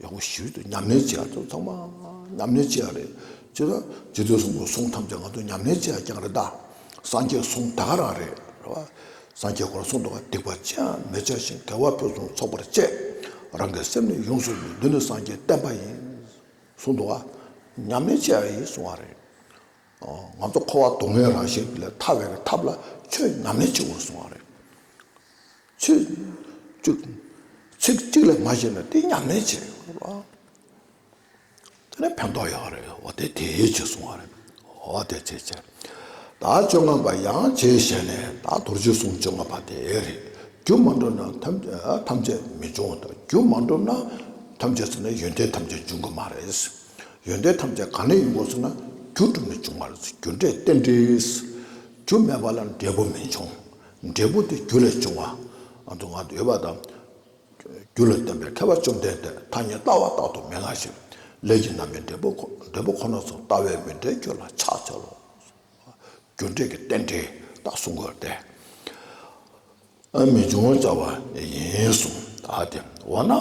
ཡང་སྒོ་ཞིག་ཏུ་ཉམས་ལེན་བྱེད་ཚོགས་ཚང་མ་ཉམས་ལེན་བྱེད་རེད་ཅེ་ན་རྗེ་བཙུན་གསུང་པོ་གསུང་ཐམས་ཅད་ང་ཚོ་ཉམས་ལེན་བྱེད་རྐྱང་རེད་ད་སངས་རྒྱས་གསུང་ད་ག་རང་རེད་རེད་བ་སངས་རྒྱས་སྐོར་གསུང་དོག་ག་སྡིག་པ་ཅི་ཡང་མི་བྱ་ཞིང་དགེ་བ་ཕུན་སུམ་ཚོགས་པར་སྤྱད་རང་གི་སེམས་ནི་ཡོངས་སུ་ལུས་འདི་ནི་སངས་རྒྱས་བསྟན་པ་ཡིན་གསུང་དོག་ག་ཉམས་ལེན་བྱེད་རེད་གསུང་བ་རེད་ང་ཚོ་འཁོར་བ་སྡུག་བསྔལ་རང་བཞིན་ལས་ཐར་བའི་ཐབས་ལ་ཆོས་ཉམས་ལེན་བྱེད་དགོས་གསུང་བ་རེད། ཚིག་གཅིག་ཚིག་གཅིག་ལས་མ་བྱས་ན་དེ་ཉམས་ལེན་བྱེད་རེད་གོ། དེ་ནས་ཕན་ཐོགས་ཡོད་རེད་འོ་དེ་དེ་ཡོད་ཅེས་གསུང་བ་རེད་འོ་དེ་ཚེ་ཚེ། ད་བཅོ་ལྔ་པ་ཡང་བྱས་བྱས་ནས་ད་དུར་རྗེས་གསུང་བཅོ་ལྔ་པ་དེ་རེད་རྒྱུ་མ་འགྲུབ་ན་ཐམས་ཅད་མི་འབྱུང་ལྟ་རྒྱུ་མ་འགྲུབ་ན་ཐམས་ཅད་ཟེར་ན་ཡོན་ཏན་ཐམས་ཅད་འབྱུང་གི་མ་རེད་ཡོན་ཏན་ཐམས་ཅད་གང་ལས་ཡིན་གོ་ཟེར་ན་རྒྱུ་གྲུབ་ནས་འབྱུང་བ་རེད་རྒྱུ་འབྲས་རྟེན་འབྲེལ་རྒྱུ་མེད་པ་ལ་འབྲས་བུ་མི་འབྱུང། འབྲས་བུ་སྟེ་རྒྱུ་ལས་བྱུང་བ། དུ་བ་འདོད་པ་དང། རྒྱུ་ལ་སྟོན་པའི་ཐེག་པ་བཅོམ་ལྡན་འདས་ཐ་སྙད་ལྟ་བ་རྟག་ཏུ་མི་སླ་ཞིང། ལས་ཀྱི་རྣམ་པའི་འབྲས་བུ་ཁོ་ན་སོགས་ལྟ་བས་མི་འབྲལ་རྒྱུ་ལ་ཕྱག་འཚལ་ལོ། རྒྱུ་འབྲས་ཀྱི་རྟེན་འབྲེལ་དག་གསུང་དགོས་ཏེ། མི་འབྱུང་བར་བྱ་བ་ཡིན་གསུངས། ཨ་ཏི་འོ་ན་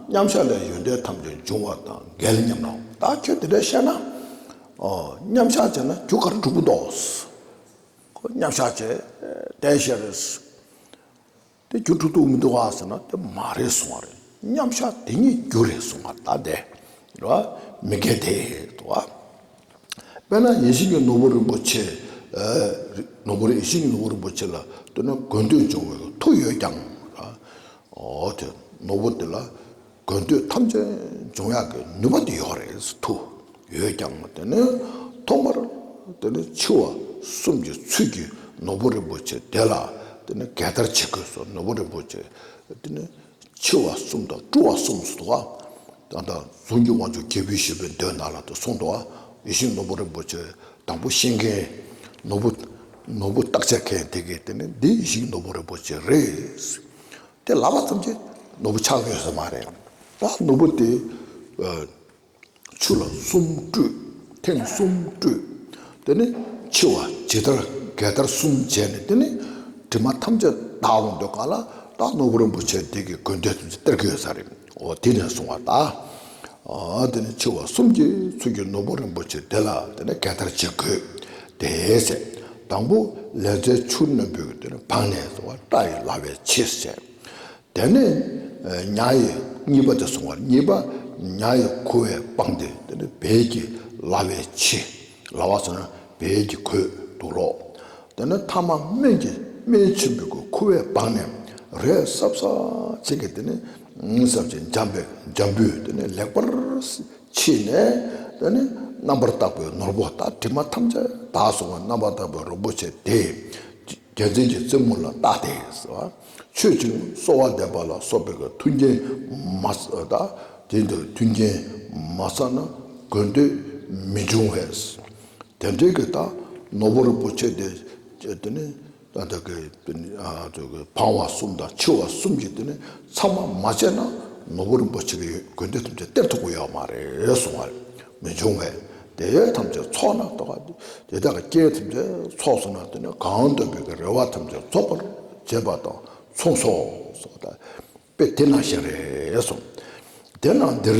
མཉམ་གཞག་ལས་ཡོན་ཏན་ཐམས་ཅད་འབྱུང་བ་དང་འགལ་སྙམ་ན་བདག་ཁྱོད་དེ་འདྲ་བཤད་ན། མཉམ་གཞག་བྱས་ན་རྒྱུ་གར་འགྲུབ་བོ་འདོགས། ཁོ་མཉམ་བཞག་བྱས། དེ་བཞིན་རེད། དེ་རྒྱུ་འཁྲུག་འདུག་མི་འདུག་ག་ཟེར་ན་དེ་མ་རེད་གསུང་བ་རེད། མཉམ་བཞག་དེ་ཉིད་རྒྱུ་རེད་གསུང་བ་ད་བདེ། རེད་བ། མི་འགལ་དེ། རེད་བ། དཔེར་ན་ཡེ་ཤེས་ཀྱི་ནོར་བུ་རིན་པོ་ཆེ། ནོར་བུ་རེད་ཡེ་ཤེས་ཀྱི་ནོར་བུ་རིན་པོ་ཆེ་ལ་ལྟོས་ན་དགོས་འདོད་འབྱུང་བའི་མཐུ་ཡོད་ཀྱང། འོ་དེ་ནོར་བུ་དེ་ལ། དགོས་འདོད་ཐམས་ཅད་འབྱུང་ཡག་གི་ནུས་པ་འདི་ཡོད་རེད་ཐུ་ཡོད་ཀྱང་དེ་ནི་ཐོག་མར་དེ་ནི་འཆི་བ་གསུམ་གྱི་ཚུལ་གྱིས་ནོར་བུ་རིན་པོ་ཆེ་དེ་ལ་དེ་ནི་གད་བདར་བྱེད་དགོས་སོ་ནོར་བུ་རིན་པོ་ཆེ་དེ་ནི་འཆི་བ་གསུམ་དང་བཀྲུ་བ་གསུམ་སོ་ད་ད་གཟུངས་ཀྱི་དབང་ཕྱུག་རྒྱལ་པོའི་ཞེས་པའི་མདོའི་ནང་ལ་དེ་གསུངས་ཏོ་ཡེ་ཤེས་ནོར་བུ་རིན་པོ་ཆེ་དང་པོ་ཤེས་མཁན་ནོར་བུ་ནོར་བུ་བརྟག་དཔྱད་མཁན་དེ་གས་དེ་ནི་འདི་ཡེ་ཤེས་ཀྱི་ནོར་བུ་རིན་པོ་ཆེ་རེད། དེ་ལ་ལ་ཙམ་གྱི་ནོར་བུ་ཆགས་ཡོད་ས་མ་རེད། ད་ནོར་བུ་དེ་ཆུ་ལ་གསུམ་བཀྲུས། ཐེངས་གསུམ་བཀྲུས། དེ་ནས་འཆི་བ་ཇི་ལྟར་འགལ་ཟླར་གསུམ་བྱས་ནས་དེ་ནས་དྲི་མ་ཐམས་ཅད་དག་འོང་འདོད་ག་ལ་ད་ནོར་བུ་རིན་པོ་ཆེ་འདི་གི་དགོས་འདོད་ཙམ་གྱི་སྟེར་གི་ཡོད་ས་རེད། འོ་དེ་ནས་བཟུང་བ་ད་དེ་ནས་འཆི་བ་གསུམ་གྱི་ཚུལ་གྱིས་ནོར་བུ་རིན་པོ་ཆེ་དེ་ལ་དེ་ནས་གད་བདར་བྱེད་དགོས། དེའི་ཚེ་དང་པོ་ལས་རྫས་ཆུ་རྣོན་པོས་དེ་ནས་བང་ནས་བཟུང་བ་སྐྲ་ཡི་ལ་བའི་ཕྱེད་བསྲེག། དེ་ནས་ཉྭ་ཡི་གཉིས་པ་དེ་བཟུང་བ་གཉིས་པ་ཉྭ་ཡི་ཁུ་བས་སྤངས་ཏེ་དེ་ནས་བལ་གྱི་ལ་བའི་ཕྱེད། ལ་བ་ཟོན་བལ་གྱིས་གོས་འདུག་ལོ། དེ་ནས་ཐ་མ་སྨན་གྱིས་སྨན་ཆེན་པོའི་གོས་ཁུ་བས་སྦགས་ནས་རས་སྲབ་སྲབ་བྱེད་ཀྱི་དེ་ནས་སྲབ་བྱེད་འཇམ་པའི་འཇམ་པོས་དེ་ནས་ལེགས་པར་ཕྱིས་ནས་དེ་ནས་རྣམ་པར་དག་པའི་ནོར་བུ་དང་དྲི་མ་ཐམས་ཅད་དག་སོང་བས་རྣམ་པར་དག་པའི་རོལ་པོ་བྱས་ཏེ། རྒྱལ་མཚན་གྱི་རྩེ་མོ་ལ་བཏགས་ཏེ། མཆོད་ཅིང་གསོལ་བ་འདེབས་པ་ལ་སོགས་པའི་མཐུན་རྐྱེན་མ་བསགས་ན། མཐུན་རྐྱེན་མ་བསགས་ན་དགོས་འདོད་མི་འབྱུང་བས། དེ་འབྲེལ་གྱི་དག་ནོར་བུ་རིན་པོ་ཆེ་སྟེ། འཕང་བ་གསུམ་དང་འཆི་བ་གསུམ་གྱི་ཚམ་མ་བཅད་ན་ནོར་བུ་རིན་པོ་ཆེ་གི་དགོས་འདོད་ཐམས་ཅད་སྟེར་ཐུབ་པ་ཡོད་མ་རེད་གསུངས་པ་རེད། མི་འབྱུང་བས་དེ་ཐམས་ཅད་ཚོགས་ན་གཏོགས། དེ་དག་སྐྱེ་བོ་ཐམས་ཅད་ཚོགས་སུ་སྣང་སྟེ་ནི་གང་འདོད་པའི་རེ་བ་ཐམས་ཅད་རྫོགས་པར་བྱེད་པ་དང་མཚུངས་སོ། དཔེ་དེ་ན་བཞིན་རེ་ཟུང། དེ་ན་འདིར་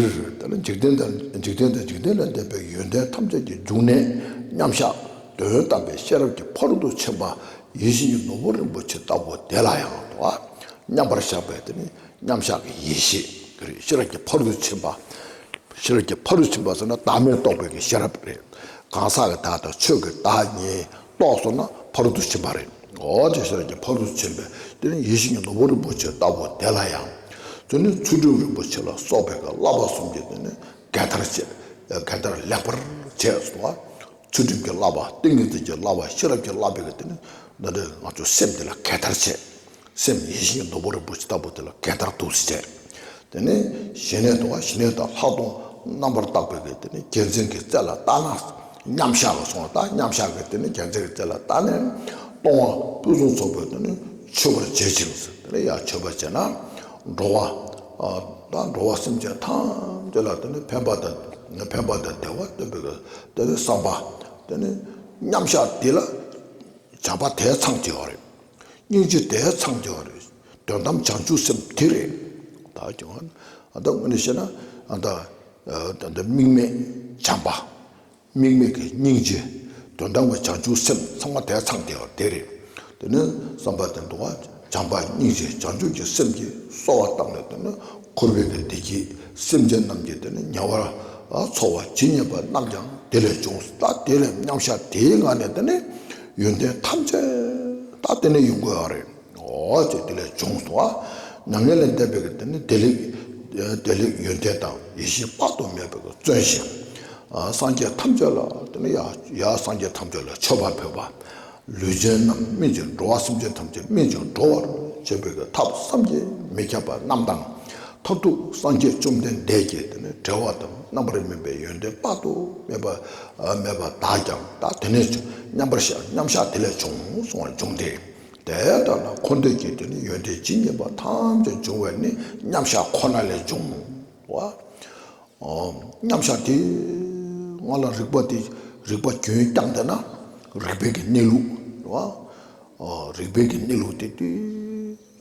འཇིག་རྟེན་དང་འཇིག་རྟེན་དང་འཇིག་རྟེན་ལས་འདས་པའི་ཡོན་ཏན་ཐམས་ཅད་ཀྱི་འབྱུང་གནས་མཉམ་གཞག་དོན་དམ་པའི་ཤེས་རབ་ཀྱི་འཕར་དུ་ཕྱིན་པ་ཡེ་ཤེས་ཀྱི་ནོར་བུ་རིན་པོ་ཆེ་ལྟ་བུ་དེ་ལ་ཡང་དོ། མཉམ་པར་གཞག་པའི་མཉམ་བཞག་གི་ཡེ་ཤེས་དེ་རེད་ཤེས་རབ་ཀྱི་ཕ་རོལ་ཕྱིན་པ། ཤེས་རབ་ཀྱི་ཕ་རོལ་ཕྱིན་པ་ཟེར་ན་བདག་མེད་རྟོགས་པའི་ཤེས་རབ་རེད། གང་ཟག་གི་བདག་དང་ཆོས་ཀྱི་བདག་གཉིས་རྟོགས་སོང་ན་ཕ་རོལ་ཏུ་ཕྱིན་པ་རེད། འོ་དེ་ཤེས་རབ་ཀྱི་ཕ་རོལ་ཕྱིན་པའི་དེ་ནི་ཡེ་ཤེས་ཀྱི་ནོར་བུ་རིན་པོ་ཆེ་ལྟ་བུ་དེ་ལ་ཡང། དེ་ནི་ཚུལ་ཁྲིམས་རིན་པོ་ཆེ་ལ་སོགས་པའི་བསླབ་པ་གསུམ་གྱི་དེ་ནི་འགལ་ཟླར་བྱས། འགལ་ཟླར་ལེགས་པར་བྱས་སོང་བ། ཚུལ་ཁྲིམས་ཀྱི་བསླབ་པ་ཏིང་ངེ་འཛིན་གྱི་བསླབ་པ་ཤེས་རབ་ཀྱི་བསླབ་པའི་དེ་ནི་ནོར་འདི་ང་ཚོའི་སེམས་འདི་ལ་འགལ་ཟླར་བྱས། སེམས་ཡེ་ཤེས་ཀྱི་ནོར་བུ་རིན་པོ་ཆེ་ལྟ་བུ་དེ་ལ་གད་བདར་དུག་གཟེར་བྱས། དེ་ནས་ཞི་གནས་དང་ཞི་གནས་དང་ལྷག་མཐོང་རྣམ་པར་དག་པའི་གེགས་དེ་ནི་རྒྱལ་མཚན་གྱི་རྩེ་ལ་བལྟ་ན་མཉམ་གཞག་ལ་སོང་བ་དང་མཉམ་གཞག་གི་དེ་ནི་རྒྱལ་མཚན་གྱི་རྩེ་ལ་བལྟ་ནས་སྟོང་བ་སྤུས་བཟང་ཚོགས་པའི་དེ་ནི་མཆོད་པར་བྱེད་ཅིང་དེ་ནི་ཡང་མཆོད་པར་བྱེད་ན་འགྲོ་བ་དང་འགྲོ་བ་སེམས་ཅན་ཐམས་ཅད་ལ་དེ་ནི་ཕན་པ་དང་ཕན་པ་དང་བདེ་བ་སྟོན་པའི་གེགས་དེ་ནི་བསམ་པ་དེ་ནི་མཉམ་གཞག་འདི་ལ་བྱ་བ་དེ་ཚང་བྱེད་པ་རེད། སྙིང་རྗེ་དེ་ཚངས་རྒྱ་བ་རེད། དོན་དམ་བྱང་ཆུབ་སེམས་དེ་རེད། བདག་ཀྱང་ཨ་ད་དངོས་ནས་བཤད་ན་ཨ་ད་དམིགས་མེད་བྱམས་པ། དམིགས་མེད་ཀྱི་སྙིང་རྗེ། དོན་དམ་གྱི་བྱང་ཆུབ་སེམས་ཚང་མ་དེ་ཚངས་རྒྱ་བ་དེ་རེད། དེ་ནི་བསམ་པ་དེ་འདུག་བྱམས་པ་སྙིང་རྗེ་བྱང་ཆུབ་ཀྱི་སེམས་ཀྱིས་གསོ་བ་བཏང་ནས་དེ་ནི་འཁོར་བའི་བདེ་སྐྱིད་སེམས་ཅན་རྣམས་ཀྱི་དེ་ནི་ཉེ་བར་འཚོ་བ་ཇི་སྙེད་པ་རྣམས་ཀྱང་དེ་ལས་འབྱུང་ད་དེ་ལས་མཉམ་བཞག་དེའི་ངང་ནས་དེ་ནི། ཡོན་ཏན་ཐམས་ཅད་ད་ལྟེ་ནས་ཡོང་དགོས་རེད་ཨོ་ཅེས་དེ་ལས་བྱུང་སོང་བ། མྱ་ངན་ལས་འདས་པའི་གི་དེ་ནི་བདེ་ལེགས། བདེ་ལེགས་ཡོན་ཏན་དང་ཡེ་ཤེས་དཔག་ཏུ་མེད་པའི་གི་བརྩོན་ཞིང། སངས་རྒྱས་ཐམས་ཅད་ལ་དེ་ནི་ཡ། ཡ་སངས་རྒྱས་ཐམས་ཅད་ལ་མཆོད་པར་ཕོད་པ། ལུས་ཅན་རྣམས་སྨིན་ཅིང་འགྲོ་བ་སེམས་ཅན་ཐམས་ཅད་སྨིན་ཅིང་འགྲོ་བར་བྱེད་པའི་གི་ཐབས་བསམ་གྱིས་མི་ཁྱབ་པ་རྣམས་དང། མཐར་ཐུག་སངས་རྒྱས་བཅོམ་ལྡན་འདས་ཀྱི་དེ་ནི་བྲལ་བ་དང་རྣམ་པར་སྨིན་པའི་ཡོན་ཏན་དཔག་ཏུ་མེད་པ། མེད་པར་བདག་ཀྱང་བདག་དེ་ནས་བྱུང་སྙམ་པར་བཞག་མཉམ་གཞག་དེ་ལས་བྱུང་གསུང་བ་འབྱུང་སྟེ། དེའི་ལྟར་ན་འཁོར་འདས་ཀྱི་དོན་ནི་ཡོན་ཏན་ཇི་སྙེད་པ་ཐམས་ཅད་འབྱུང་བས་ནི་མཉམ་གཞག་ཁོ་ན་ལས་འབྱུང་བའོ། མཉམ་གཞག་དེ་སྔ་ལ་རིགས་པ་དེ་རིགས་པ་རྒྱུན་བསྐྱངས་དེ་ན་རིགས་པའི་གནས་ལུགས། རིགས་པའི་གནས་ལུགས་དེ་དུས་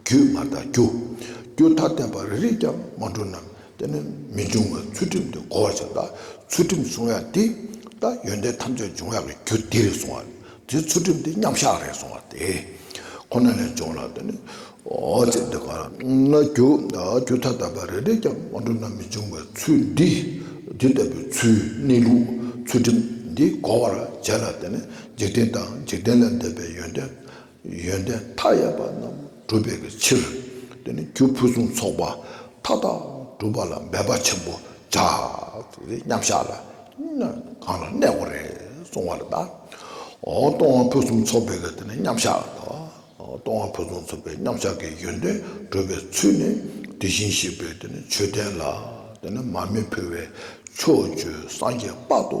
རྒྱུད་མ་དག་རྒྱུ། རྒྱུ་མཐའ་བརྟེན་པ་རེ་རེས་ཀྱང་སྔོན་འགྲོ་རྣམས་བསྟེན་ནས་མི་འབྱུང་བའི་ཚུལ་ཁྲིམས་དེ་གོ་བར་བྱ། ད་ཚུལ་ཁྲིམས་བསྲུང་ཡག་འདི། ད་ཡོན་ཏན་ཐམས་ཅད་འབྱུང་ཡག་གི་རྒྱུ་འདི་རེ་བསྲུང་བ། དེ་ཚུལ་ཁྲིམས་དེ་མཉམ་བཞག་རེ་བསྲུང་བ་དེ་ཁོ་ན་ལས་འབྱུང་ལ། ཅེས་འདི་ལྟར་ན། རྒྱུ་མཐའ་དག་པ་རེ་རེས་ཀྱང་སྔོན་འགྲོ་རྣམས་མི་འབྱུང་བའི་ཚུལ་འདི། འདི་ལྟ་བུའི་ཚུལ་གནས་ལུགས་ཚུལ་ཁྲིམས་འདི་གོ་བར་བྱས་ལ། འཇིག་རྟེན་དང་འཇིག་རྟེན་ལས་འདས་པའི་ཡོན་ཏན་ཡོན་ཏན་མཐའ་ཡས་པ་རྣམས་བསྒྲུབ་པའི་ཕྱིར། དེ་ནས་རྒྱུ་ཕུན་སུམ་ཚོགས་པ་མཐའ་དག་བསྒྲུབ་པ་ལ་འབད་པ་ཆེན་པོ་བྱ། མཉམ་གཞག་ལ་གང་ལ་གནས་སྒོ་རེ་སོང་བ་ལ་བཟླ། གཏོར་དབང་ཕུན་སུམ་ཚོགས་པའི་གཏོར་མཉམ་གཞག་ལ་བཟླ། གཏོར་དབང་ཕུན་སུམ་ཚོགས་པའི་མཉམ་གཞག་གི་ཡོན་ཏན་བསྒྲུབ་པའི་ཚུལ་ནི་དེ་བཞིན་གཤེགས་པའི་མཆོད་རྟེན་ལ་མར་མེ་ཕུལ་བས་ཕྱོགས་བཅུའི་སངས་རྒྱས་དཔག་ཏུ་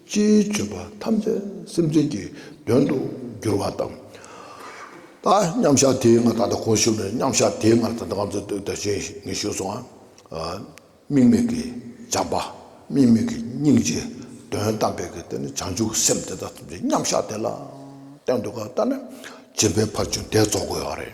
སྤྱིའི་སྤྱོད་པ་ཐམས་ཅད་སེམས་ཅན་གྱི་དོན་དུ་འགྱུར་བ་དང། ད་མཉམ་བཞག་དེའི་སྔར་ད་ལྟ་གོང་བཞུགས་ནས་མཉམ་བཞག་དེའི་སྔར་ད་ལྟ་གང་ཚུལ་དུ་དེ་བཞིན་ཉིད་བཞུགས་སོ། དམིགས་མེད་ཀྱི་སྦྱངས་པ་དམིགས་མེད་ཀྱི་སྙིང་རྗེ་དོན་དམ་པའི་གེགས་དེ་ནི་བྱང་ཆུབ་སེམས་དེ་དག་ཐམས་ཅད་མཉམ་བཞག་དེ་ལ་བརྟེན་དུ་གང་ལྟར་ན་བྱིན་པའི་བར་ཆུ་འདེགས་རྫོགས་དགོས་པ་རེད།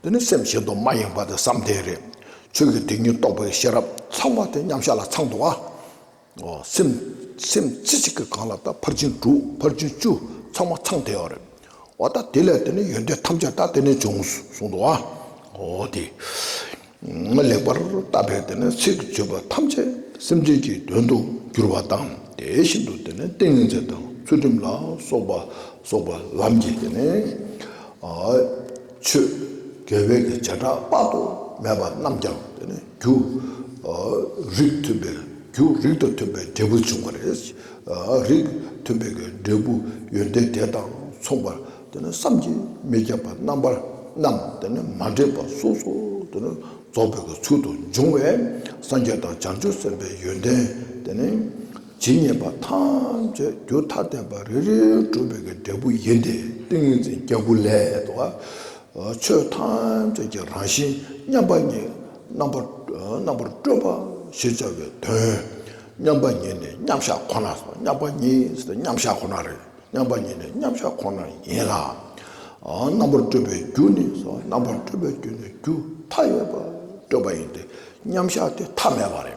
འདི་ནི་སེམས་ཤིན་ཏུ་མ་ཡེངས་པ་དེ་བསམ་གཏན་རེད། ཆོས་ཀྱི་དེ་ཉིད་རྟོགས་པའི་ཤེས་རབ་ཚང་བ་དེ་མཉམ་གཞག་ལ་ཚང་དུ་བ། སེམས་རྩེ་གཅིག་གིས་གང་ལ་ད་ཕར་ཕྱིན་དྲུག་ཕར་ཕྱིན་བཅུ་ཚང་མ་ཚང་དེ་བ་རེད། འོ་ད་དེ་ལས་དེ་ནི་ཡོན་ཏན་ཐམས་ཅད་ད་དེ་ནས་བྱུང་གསུང་དུ་བ། འོ་དེ་ནི་ལེགས་པར་བརྟགས་པས་དེ་ནི་ཚིག་བརྗོད་པ་ཐམས་ཅད་སེམས་ཅན་གྱི་དོན་དུ་འགྱུར་བ་དང་དེ་བཞིན་དུ་དེ་ནི་ཏིང་ངེ་འཛིན་དང་ཚུལ་ཁྲིམས་ལ་སོགས་པ་སོགས་པ་ལམ་གྱི་དེ་ནི། ཆོས་རྒྱལ་བོད་ཀྱི་བྱེ་བྲག་དཔག་ཏུ་མེད་པ་རྣམས་ཀྱང་དེ་ནས་རྒྱུ་རིགས་མཐུན་པའི་རྒྱུ་རིགས་དང་མཐུན་པའི་འབྲས་བུ་འབྱུང་བ་རེད། རིགས་མཐུན་པའི་འབྲས་བུ་ཡོན་ཏན་དེ་དང་མཚུངས་པར་དེ་ནི་བསམ་གྱིས་མི་ཁྱབ་པ་རྣམ་པར་རྣམས་དེ་ནི་མ་འདྲེས་པ་སོ་སོ་དེ་ནི་རྫོགས་པའི་ཚུལ་དུ་འབྱུང་བས་སངས་རྒྱས་དང་བྱང་ཆུབ་སེམས་དཔའི་ཡོན་ཏན་དེ་ནི། ཇི་སྙེད་པ་ཐམས་ཅད་རྒྱུ་མཐའ་བརྟེན་པ་རེ་རེའི་གྲུབ་པའི་གི་འབྲས་བུ་ཡིན་ཏེ་ཏིང་ངེ་འཛིན་སྐྱེས་བུ་ལས། ཆོས་ཐམས་ཅད་ཀྱི་རང་བཞིན་མཉམ་པ་ཉིད་རྣམ་པར་སྤྲོས་པ་ཞེས་བྱ་བའི་དོན། མཉམ་པ་ཉིད་ནི་མཉམ་བཞག་ཁོ་ན་སོ། མཉམ་པ་ཉིད་ནི་མཉམ་བཞག་ཁོ་ན་རེ། མཉམ་པ་ཉིད་ནི་མཉམ་བཞག་ཁོ་ན་ཡིན་ལ། རྣམ་པར་སྤྲོས་པའི་རྒྱུ་ནི་སོ། རྣམ་པར་སྤྲོས་པའི་རྒྱུ་ནི་རྒྱུ་མཐའ་ཡས་པ་སྤྲོས་པ་ཡིན་ཏེ་མཉམ་བཞག་སྟེ་མཐའ་མེད་པ་རེ།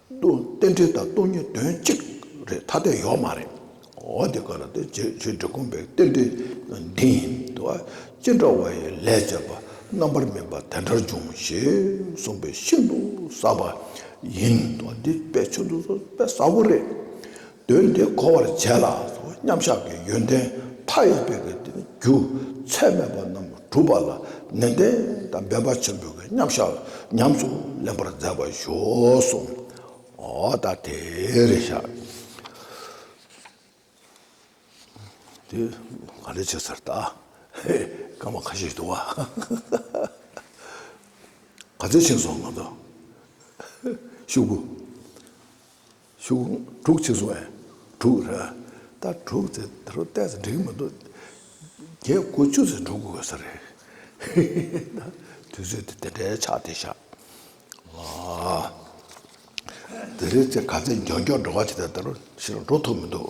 ཏུ་རྟེན་འབྲེལ་དང་སྟོང་ཉིད་དོན་གཅིག་རེད་ཐ་དད་ཡོད་མ་རེད། འོ་དེ་ག་ལ་དེ་རྗེས་ཆོས་འབྲེལ་གོམས་པའི་རྟེན་འབྲེལ་འདི་ཡིན་དུ་ཨ་ཅེ་འདྲ་བ་ཡི་ལས་བྱས་པ་རྣམ་པར་སྨིན་པ་དེ་འདྲར་འབྱུང་ཞེས་གསུངས་པའི་ཤིན་ཏུ་ཟབ་པ་ཡིན་དུ་འདི་དཔེ་ཆུང་དུ་ཟབ་པས་ཟབ་པོ་རེད། དོན་དེ་གོ་བར་བྱས་ལ་མཉམ་བཞག་གི་ཡོན་ཏན་མཐའ་ཡས་པའི་རྒྱུ་ཚད་མེད་པ་རྣམས་གྲུབ་པ་ལ་ནན་ཏན་དང་འབད་པ་ཆེན་པོས་མཉམ་བཞག་ཉམས་སུ་ལེན་པར་མཛད་པར་ཞུགས་སོ། ད་དེར་བཞག། དེ་ག་རེ་བྱེད་ཟེར་ད། སྐར་མ་ཁ་ཤས་འདུག་ཨ། ག་ཚོད་ཕྱིན་སོང་ང་ཚོ། ཤུགས། ཤུགས་དྲུག་ཕྱིས་སུ་ཨན་དྲུག་རེད། ད་དྲུག་ཚེ་དེ་རུ་བལྟས་ཚེ་འགྲིག་མི་འདུག་བརྒྱད་དགུ་བཅུ་ཚེ་འགྲོ་དགོས་ས་རེད། ཧི་ཧི་ད་དུས་ཚོད་དེ་དེ་འདྲའི་ཆགས་དེ་ཤག་དེ་རེད་ཚེ་ག་ཚེ་མགྱོགས་མགྱོགས་འགྲོ་བ་བྱས་ཚེ་ད་རུ་ཕྱིར་འགྲོ་ཐུབ་མི་འདུག།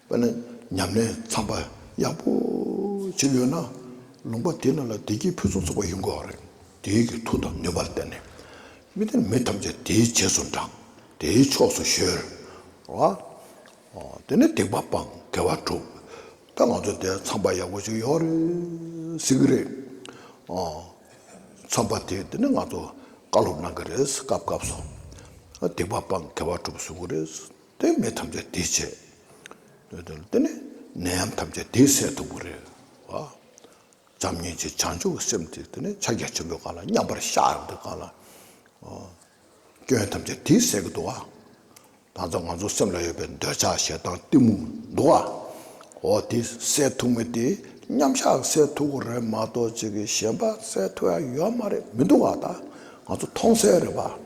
དཔེར་ན་ཉམས་ལེན་ཚངས་པ་ཡག་པོ་བྱེད་ཡོད་ན་ལུང་པ་དེ་རྣམས་ལ་བདེ་སྐྱིད་ཕུན་སུམ་ཚོགས་པ་ཡོང་དགོས་པ་རེད། དེའི་གི་མཐུ་དང་ནུས་པར་བརྟེན་ནས་མི་དེ་མི་ཐམས་ཅད་དེའི་རྗེས་སུ་འབྲངས་དེའི་ཕྱོགས་སུ་གཞོལ། དེ་ནས་སྡིག་པ་སྤང་དགེ་བ་སྒྲུབ། ད་ང་ཚོ་དེ་ཚངས་པ་ཡག་པོ་ཞིག་ཡོང་རེད་ཟེར་གི་རེད། ཚངས་པ་དེ་དེ་ནས་ང་ཚོ་བཀའ་སློབ་གནང་གི་རེད་སྐབས་སྐབས་སུ་སྡིག་པ་སྤང་དགེ་བ་སྒྲུབ་གསུང་གི་རེད། དོན་མེད་ཐམས་ཅད་དེས་བྱས། དེ་ནི་ནད་ཡམས་ཐམས་ཅད་དེས་སེལ་ཐུབ་པོ་རེད། བྱམས་སྙིང་རྗེ་བྱང་ཆུབ་སེམས་དེ་དེ་ནི་ཕྱག་རྒྱ་ཆེན་པོའི་གང་ལ་མཉམ་པར་གཞག་ཡོང་དུས་གང་ལ། སྐྱོན་ཐམས་ཅད་དེས་སེལ་གི་འདུག་ཨ། ད་ཚོ་ང་ཚོ་སེམས་ལ་ཡོད་པའི་འདོད་ཆགས་ཞེ་སྡང་གཏི་མུག་འདུག་ཨ། འོ་དེ་སེལ་ཐུབ་མི་དེ་མཉམ་གཞག་སེལ་ཐུབ་པོ་རེད་མ་གཏོགས་ཅིག་གིས་གཞན་པ་སེལ་ཐུབ་ཡ་ཡོད་མ་རེད་མི་འདུག་ཨ། ད་ང་ཚོ་མཐོང་གསལ་རེད་པ།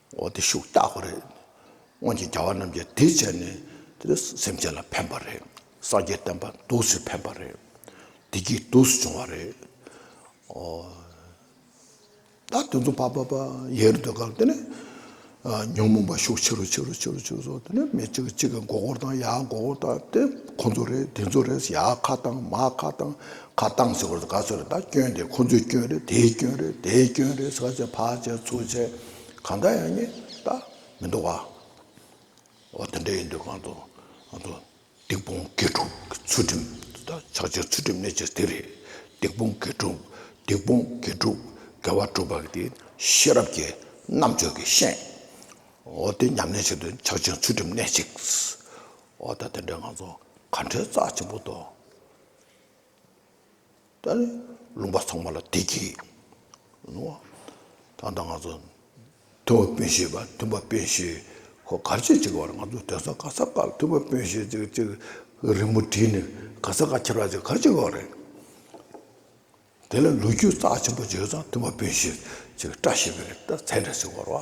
འོ་དེ་ཤུགས་རྟག་པ་རེད། སྔོན་གྱི་རྒྱལ་བ་རྣམས་ཀྱིས་དེ་བྱས་ནས་དེ་སེམས་ཅན་ལ་ཕན་པ་རེད། སངས་རྒྱས་བསྟན་པ་འདུག་སུས་ཕན་པ་རེད། བདེ་སྐྱིད་འདུག་སུས་བྱུང་བ་རེད། འོ། ད་དེ་ཚོ་བ་བ་བ་ཡལ་རུ་འདོད་སྐབས་དེ་ནས། ཉོན་མོངས་པ་ཤུགས་ཆེ་རུ་ཆེ་རུ་ཆེ་རུ་ཆེ་རུ་སོང་དེ་ནས་མི་གཅིག་གཅིག་གི་མགོ་སྐོར་དང་ཡ་མགོ་སྐོར་དང་དེ་ཁོ་ཚོ་རེད་དེ་ཚོ་རེད་ཡ་ཁ་བཏང་མ་ཁ་བཏང་ཁ་བཏང་ཟེར་བ་དེ་ག་ཚོད་རེད་ད་སྐྱོན་དེ་ཁོ་ཚོའི་སྐྱོན་རེད་དེའི་སྐྱོན་རེད་དེའི་སྐྱོན་རེད་ཟེར་བ་ཚོས་ཕར་བྱས་ཚུར་བྱས། གང་འདྲ་ཡང་རྙེད་ད་མི་འདུག་བ། འོ་དེ་འདྲ་ཡིན་དུས་གང་དུ་སྡིག་སྤོང་དགེ་ཕྲུག་གི་ཚུལ་ཁྲིམས་ད་ཆགས་ཆེ་ཚུལ་ཁྲིམས་གནས་ཆེ་དེ་རེད། སྡིག་སྤོང་དགེ་ཕྲུག་སྡིག་སྤོང་དགེ་ཕྲུག་དགེ་བ་སྒྲུབ་པ་དེ་ཤེས་རབ་ཀྱི་རྣམ་དཔྱོད་ཀྱི་ཤན། འོ་དེ་ཉམས་ལེན་བྱེད་དུས་ཆགས་ཆེ་ཚུལ་ཁྲིམས་གནས་ཅིག། འོ་ད་དེ་འདྲའི་ང་ཚོ་ག་འདྲའི་རྩ་ཆེན་པོ་དོ། ད་ནི་ལུང་པ་ཚང་མ་ལ་དེ་གྱིས་ནོ། ད་ལྟ་ང་ཚོ་ཐུབ་པ་དཔོན་ཤེས་པ་ཐུབ་པ་དཔོན་ཤེས་ཁོ་གར་བྱེད་ཅིག་བར་ང་ཚོ་དོན་ས་ག་ས་ཀར་ཐུབ་པ་དཔོན་ཤེས་ཅིག་ཅིག་རིང་མོ་བྲིས་ནས་ག་ས་ཀ་ཁྱེར་བ་ཅིག་གར་བྱེད་དགོས་རེད། དེ་ལ་ལོ་རྒྱུས་རྩ་ཆེན་པོ་བརྗོད་ཙང་ཐུབ་པ་དཔོན་ཤེས་ཅིག་བཀྲ་ཤིས་པའི་རིགས་ལྟར་མཚན་འགྲེལ་ཞིག་བར་བ།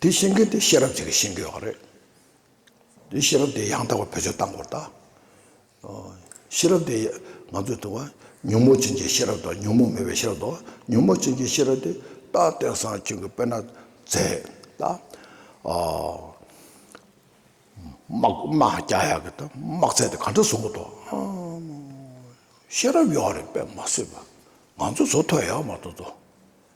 དེའི་བཤད་མཁན་དེ་ཤེས་རབ་ཅིག་གིས་བཤད་མཁན་ཡོད་པ་རེད། དེའི་ཤེས་རབ་དེ་ཡང་དག་པར་བེད་སྤྱོད་བཏང་དགོས་ད། ཤེས་རབ་དེ་ང་ཚོས་དུ་བ་ཉོན་མོངས་ཅན་གྱི་ཤེས་རབ་དང་ཉོན་མོངས་མེད་པའི་ཤེས་རབ་དང་ཉོན་མོངས་ཅན་གྱི་ཤེས་རབ་དེ་རྟག་བརྟན་བཟང་ཆོས་ཀྱི་དཔལ་ན་མཛད་ད། དམག་རྒྱག་ཡག་གི་ད་དམག་ཚད་དེ་ག་འདྲ་བཟོ་དགོས་ད། ཤེས་རབ་ཡོད་རེད་པས་མ་བཟོས་པ། ང་ཚོ་བཟོ་ཐོ་ཡག་མ་བཟོ་ད།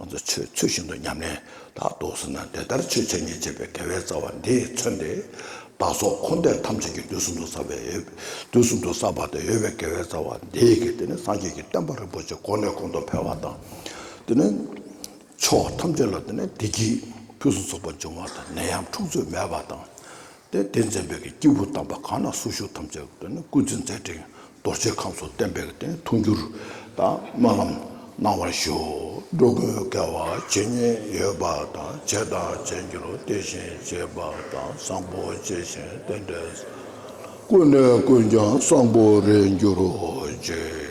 ང་ཚོ་ཆོས་ཚུལ་བཞིན་དུ་ཉམས་ལེན་དག་རྡོ་སོན་ན་འདི་ལྟར་ཆོས་འཆད་ཉན་བྱེད་པའི་དགེ་བའི་རྩ་བ་འདིས་མཚོན་ཏེ། བདག་སོགས་འཁོར་འདས་ཐམས་ཅད་ཀྱི་དུས་གསུམ་དུ་བསགས་པའི་དུས་གསུམ་དུ་བསགས་པ་དང་ཡོད་པའི་དགེ་བའི་རྩ་བ་འདིས་ཀྱི་དེ་ནི་སངས་རྒྱས་ཀྱི་བསྟན་པ་རིན་པོ་ཆེ་གོང་ནས་གོང་དུ་འཕེལ་བ་དང། དེ་ནི་ཕྱོགས་ཐམས་ཅད་ལ་དེ་ནི་བདེ་སྐྱིད་ཕུན་སུམ་ཚོགས་པ་འབྱུང་བ་དང་ནད་ཡམས་འཁྲུག་རྩོད་མེད་པ་དང། དེ་དེ་འཛིན་པའི་སྐྱེས་བུ་དམ་པ་གང་ན་སུ་བཞུགས་ཐམས་ཅད་ཀྱི་དེ་ནི་སྐུ་ཚེ་མཛད་ཕྲིན་རྡོ་རྗེ་ཁམས་སུ་བརྟན་པའི་རྟེན་འཐུང་འགྱུར་དང་སྨོན་ལམ་གནང་བར་ཞུ། འགྲོ་ཀུན་སྐལ་བ་ཇི་སྙེད་ཡོད་པ་དང་བྱས་དང་བྱེད་འགྱུར་དེ་བཞིན་བྱེད་པ་དང་བཟང་པོ་ཇི་བཞིན་རྟེན་འབྲེལ་བསགས། ཀུན་ནས་ཀུན་ཀྱང་བཟང་པོ་རེད་འགྱུར་རོ་ཅིག།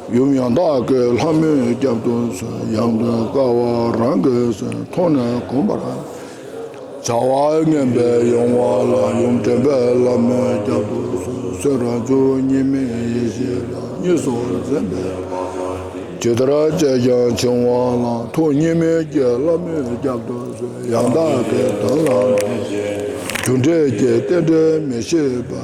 ཡུམ་ཡང་དག་གི་ལྷ་མོའི་རྒྱབ་ཏུ་ཡང་དུ་དགའ་བ་རང་གིས་མཐོང་ནས་བསྒོམ་པར་བྱ། བ་ངན་པའི་གཡེང་བ་ལ་ཡུམ་དྲན་པས་ལྷ་མོའི་རྒྱབ་ཏུ་གསོད་རང་རྒྱུ་གཉིས་མེད་ཡེ་ཤེས་ལ་གཉིས་སུ་འཛིན་པས། ཇི་ལྟར་སྤྱད་ཀྱང་འཆིང་བ་ལ་ཐུགས་གཉིས་མེད་ཀྱི་ལྷ་མོའི་རྒྱབ་ཏུ་ཡང་དག་གི་དོན་ལ་འཇུག། རྒྱུ་འབྲས་ཀྱི་རྟེན་འབྲེལ་མི་ཤེས་པ།